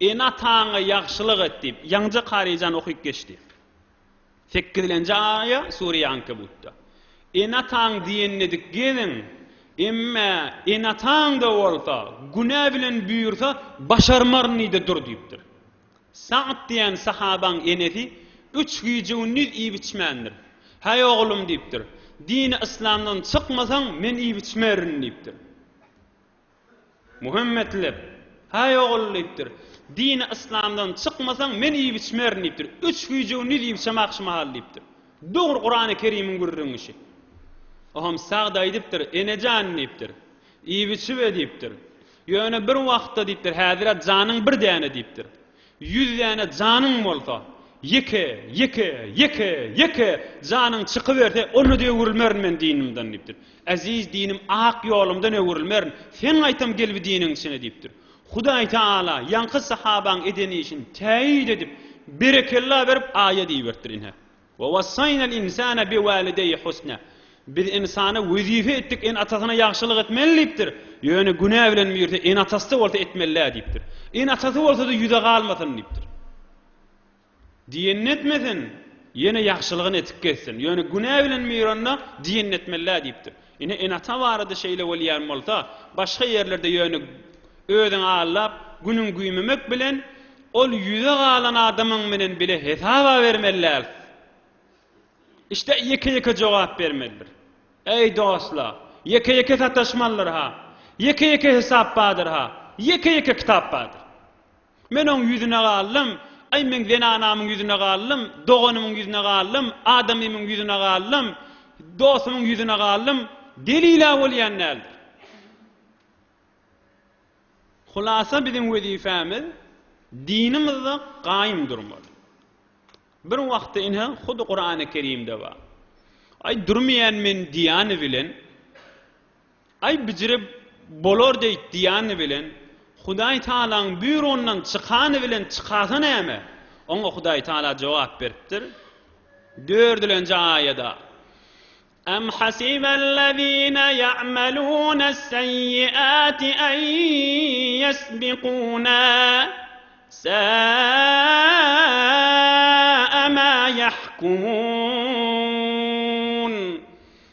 Ene-ataňa ýagşylyk et, diýip, ýaňja Karyjan okyp geçdi. Sekizlenji aýa Sure-i Ankebutda, Ene-ataň diýenine dik geliň, emme ene-ataň-da bolsa, günä bilen buýursa, başarmaryn-yda dur diýipdir. Sa'd diýen sahabaň enesi üç gije-gündiz iýip-içmändir. Häý, oglum, diýipdir, dini yslamdan çykmasaň, men iýip-içmerin, diýipdir. Muhammet leb, Häý, ogul, diýipdir. Dini yslamdan çykmasaň, men iýip-içmerin, diýipdir. Üç güýje-gündiz iýip-içem agşamahal, diýipdir. Dogry Kurany Kerimiň gürrüňişi. Oňam Sagd aýdypdyr, Ene jan, diýipdir. Iýip-içibe, diýipdir. Ýöne bir wagtda, diýipdir, häzir-ä janyň bir däne, diýipdir. Ýüz däne janyň bolsa, ýeke, ýeke, ýeke, ýeke janyň çykyberse, onda-da öwrülmerin men dinimden diýipdir. Eziz dinim ak ýolumdan öwrülmerin, sen gaýtam gel bu diniň içine diýipdir. Hudaý Tagala ýaňky sahabaň eden işini täýit edip, berekella berip, aýa diýiberipdir, ine, Ve wassaynel insane bi walideyi husna. Biz ynsana wezipe etdik ene-atasyna ýagşylyk etmeli diýipdir. Ýöne günä bilen birde ene-atasy-da bolsa etmeli-dä diýipdir. Ene-atasy bolsa-da ýüze galmasyn diýipdir. Diýenini etmesin, ýene ýagşylygyny edip gezsin. Ýöne günä bilen bir onda diýenini etmeli-dä diýipdir. Ine ene-ata barada şeýle bolýan bolsa, başga ýerlerde ýöne özüňi aldap, günüňi güýmemek bilen, ol ýüze galan adamyň menen bile hesaba bermeli däl. Işde ýeke-ýeke jogap bermelidir. Eý dostlar, ýeke-ýeke sataşmalydyr-ha, ýeke-ýeke hesap bardyr-ha, ýeke-ýeke kitap bardyr. Men oň ýüzüne galdym, Aý, men zenanamyň ýüzüne galdym, doganymyň ýüzüne galdym, adamymyň ýüzüne galdym, dostumyň ýüzüne galdym, delil-ä bolýan däldir. Hulasa biziň wezipemiz dinimizde gaýym durmaly. Bir wagtda ine hudy Kurany Kerimde bar. Aý durmaýan men diýani bilen Aý bijirip bolar deý diýani bilen Hudaý Tagalaň býurondan çykany bilen çykasy näme? Oňa Hudaý Tagala jogap beripdir, dördülenji aýada, Em hasibellezine ya'melunesseyyiati en yesbikuna, sa'a ma yahkumun.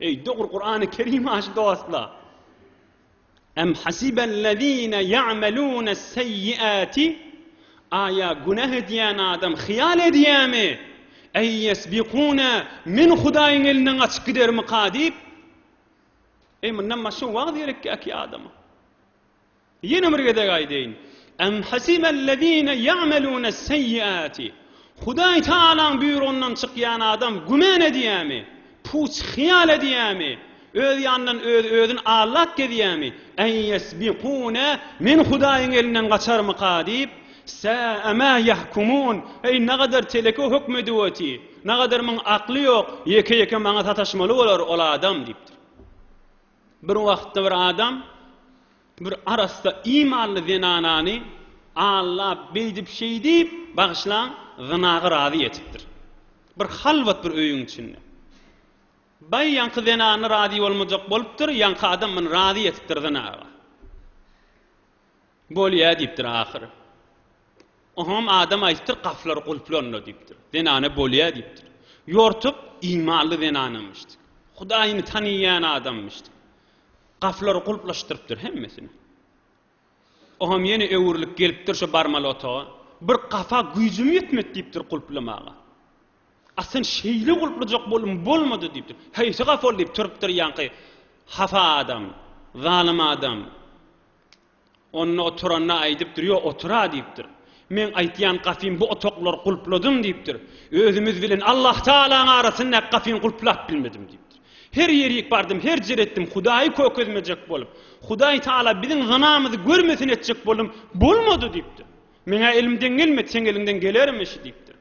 Eý dogry Kurany Kerim aşy dostlar. Em hasibellezine ya'melunes seyyiati Aýa günäh edýän adam hyýal edýärmi? Eý yesbikuna men Hudaýyň elinden gaçyp gidermika diýip. Eý mundan başga wagt gerekki äki adama. Ýene bir gezek aýdaýyn. Em hasibellezine ya'melune'sseyyati. Hudaý Tagalaň buýrugyndan çykýan adam güman edýärmi, puç hyýal edýärmi, öz ýanyndan özi özüni allap gezýärmi, en yesbikune, Men Hudaýyň elinden gaçarmyka diýip, Sa'a ma yahkumun, Eý, nagadar teleke höküm edip oty, nagadar muň akly ýok, ýeke-ýeke maňa sataşmaly bolar ol adam diýipdir. Bir wagtda bir adam bir arassa imanly zenanany allap, beýdip-şeýdip, bagyşlaň, zynaga razy etipdir. Bir halwat bir öýüň içinde. Baý ýaňky zenany razy bolmajak bolupdyr, ýaňky adam muny razy etipdir zynaga. Bolýa diýipdir ahyry. Oňam adam aýdypdyr, gapylar gulplanla diýipdir. Zenana bolýa diýipdir. Ýortup imanly zenanamyşdy. Hudaýyny tanyýan adammyşdy. Gapylary gulplaşdyrypdyr hemmesini. Oňam ýene öwrülip gelipdir şo barmaly otaga. Bir gapa güýjüm ýetmedi diýipdir gulplamaga. A sen şeýle gulplajak bolduň, bolmady, diýipdir. Haýsy gafyl diýip turupdyr ýaňky hafa adam, zalym adam. Onda oturanda aýdypdyr, Ýok, otur-a, diýipdir. Meň aýtýan gafym bu otaklary gulpladym, diýipdir. Özümiz bilen Allahtagalaň arasyndaky gafyny gulplap bilmedim, diýipdir. Her ýerik bardym, her jer etdim, Hudaýy kökezmejek bolup, Hudaýtagala biziň zynamyzy görmesin etjek boldum, bolmady, diýipdir. Meň-ä elimden gelmedi, seň eliňden gelermi şi, diýipdir.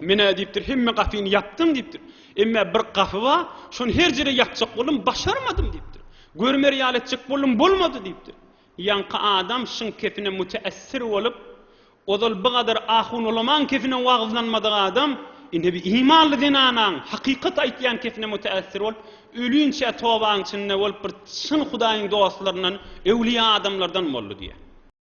Men-ä diýipdir, hemme gapyny ýapdym diýipdir. Emmä bir gapy bar, şony her jere ýapjak boldum, başarmadym diýipdir. Görmer ýaly etjek boldum, bolmady diýipdir. Ýaňky adam şyň kepine müteessir bolup, ozal bigadar ahun-ulamaň kepine wagyzlanmadyk adam, indi bir imanly zenanaň, hakykat aýtýan kepine müteessir bolup, ölinçä tobaň içinde bolup, bir çyn Hudaýyň dostlaryndan, öwlüýa adamlardan boldy diýýär.